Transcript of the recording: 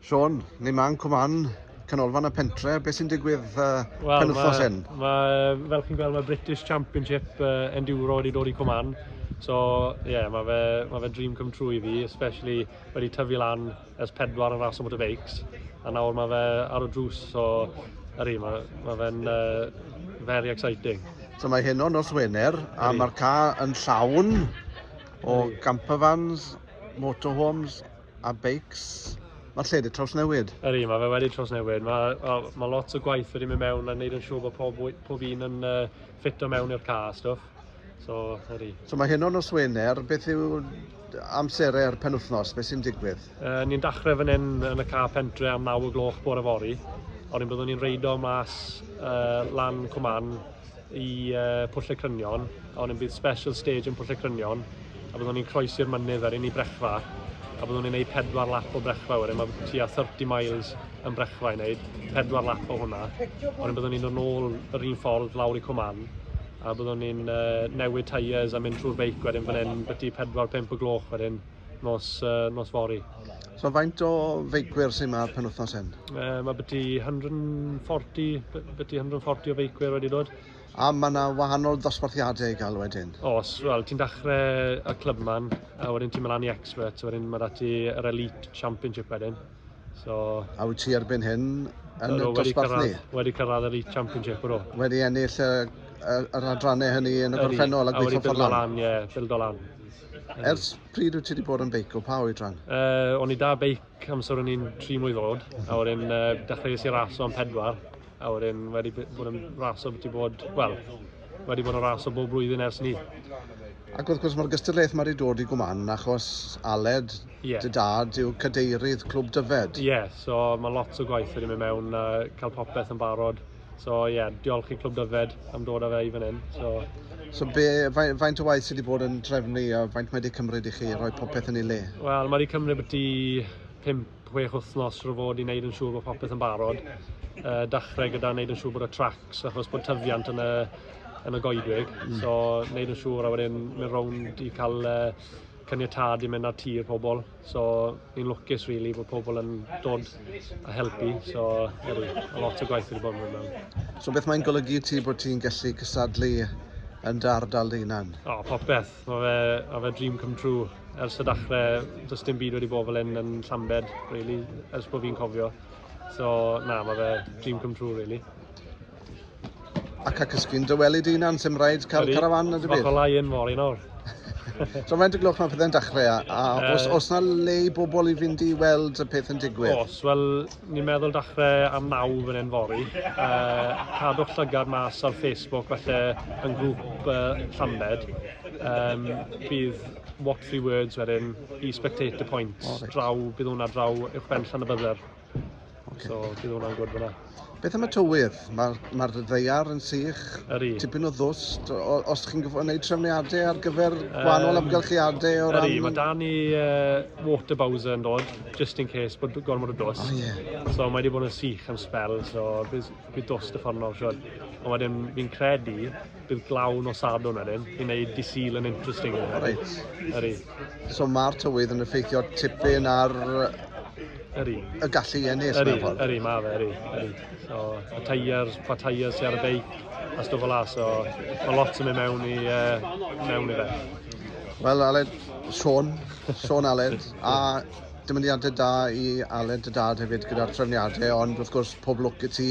Sean, ni man cwman canolfan y pentre, beth sy'n digwydd uh, well, pen wythnos hyn? fel chi'n gweld, mae British Championship uh, Enduro wedi dod i cwman. So, ie, yeah, mae fe, ma fe dream come true i fi, especially wedi tyfu lan ers pedwar yn ras o motorbikes. A nawr mae fe ar y drws, so, yr un, mae, mae fe'n uh, very exciting. So mae hyn o'n nos Wener, a mae'r ca yn llawn o campervans, motorhomes a beics. Mae'r lle wedi trawsnewid. Ydy, mae fe wedi trawsnewid. Mae, well, mae lot o gwaith wedi mynd mewn a wneud yn siŵr bod pob, pob un yn uh, ffito mewn i'r car a stwff. So, ydy. So mae hyn o'n nos Wener, beth yw amserau'r penwthnos, beth sy'n digwydd? Uh, ni'n dachrau fan hyn yn y car pentre am 9 o gloch bore fori. O'n i'n byddwn ni'n reidio mas uh, lan Cwman i uh, Pwll y Crynion, ond yn bydd special stage yn Pwll y Crynion, a byddwn ni'n croesi'r mynydd ar un i brechfa, a byddwn ni'n gwneud pedwar lap o brechfa wedyn, mae tua 30 miles yn brechfa i wneud, pedwar lap o hwnna, ond byddwn ni'n dod nôl yr un ffordd lawr i Cwman, a byddwn ni'n uh, newid tyres a mynd trwy'r beic wedyn fan hyn, byty 4-5 o gloch wedyn, nos, uh, nos fori. So faint o feicwyr sy'n ma'r penwthnos hyn? Uh, mae byti 140, byti 140 o feicwyr wedi dod. A mae yna wahanol dosbarthiadau i gael wedyn? Os, wel, ti'n dechrau y clwb man, a wedyn ti'n mynd lan i expert, wedyn mae dati yr elite championship wedyn. So, a wyt ti erbyn hyn yn y dosbarth ni? Wedi cyrraedd yr Elite Championship o. Wedi ennill y, y, yr adrannau hynny yn y gorffennol a gweithio ffordd lan? Wedi bildo lan, ie, bildo lan. Ers pryd wyt ti wedi bod yn beicio? Pa oedran? Uh, o'n i da beic amser o'n i'n tri mwy ddod, a wedyn uh, dechreuais i raso am pedwar, a wedyn wedi bod yn raso beth i bod, wel, wedi bod yn raso bob blwyddyn ers ni. Ac wrth gwrs mae'r gystadlaeth mae wedi dod i gwman achos Aled, yeah. dy dad, yw cadeirydd Clwb Dyfed. Ie, yeah, so mae lot o gwaith wedi mynd mewn a cael popeth yn barod. So ie, yeah, diolch i Clwb Dyfed am dod â fe i fan hyn. So, so be, faint, faint o waith sydd wedi bod yn drefnu a faint mae wedi cymryd i chi roi popeth yn ei le? Wel, mae wedi cymryd beth i 5-6 wythnos rwy'n fod i wneud yn siŵr bod popeth yn barod. Uh, dachrau gyda wneud yn siŵr bod y tracks achos bod tyfiant yn y, yn y goedwig. Mm. So, wneud yn siŵr a wedyn mynd rownd i cael uh, caniatad i mynd ar tir pobl. So ni'n lwcus really bod pobl yn dod a helpu, so ydy, a lot o gwaith wedi bod yn mynd So beth mae'n golygu i ti bod ti'n gallu cysadlu yn dy ardal dy hunan? O, oh, popeth. Mae fe, ma fe dream come true. Ers y dachrau, does dim byd wedi bod fel hyn yn Llambed, really, ers bod fi'n cofio. So, na, mae fe dream come true, really. Ac ac ysgyn dy weli dy unan, sy'n rhaid cael Ydy. carafan na dy byd. Fath yn fori nawr. So mae'n dy glwch mae pethau'n dechrau, a, a uh, os, os na le i bobl i fynd i weld y peth yn digwydd? Os, wel, ni'n meddwl dechrau am naw fan hyn fori. Uh, cadwch llygad mas ar Facebook, felly yn grŵp uh, Llambed. Um, bydd What Three Words wedyn i Spectator Point, oh, right. draw, bydd hwnna draw uwch ben llan y bydder. Okay. So, bydd hwnna'n gwrdd fyna. Beth am y tywydd? Mae'r ma ddeiar yn sych, Yri. tipyn o ddws. Os chi'n gwneud trefniadau ar gyfer gwahanol um, amgylchiadau o ran... Yri, mae da ni uh, water bowser yn dod, just in case bod gormod o dws. Oh, yeah. So mae wedi bod yn sych am spel, so bydd, bydd dws dy ffordd nawr, siwr. Ond wedyn fi'n credu bydd glaw nos Sadwrn wedyn i wneud dy Sul yn interesting. Reit. Yri. So mae'r tywydd yn effeithio tipyn ar Yri. y gallu i ennill Yri, mewn ffordd. yri, ma fe, yri, yri. So, y tyres, pa tyres sy ar y beic, a stwff o la, so mae lot yn mynd mewn i, uh, mewn i fe. Wel, Aled, Sean, Sean Aled, a dymuniadau da i Aled y dad hefyd gyda'r trefniadau, ond wrth gwrs pob lwc i ti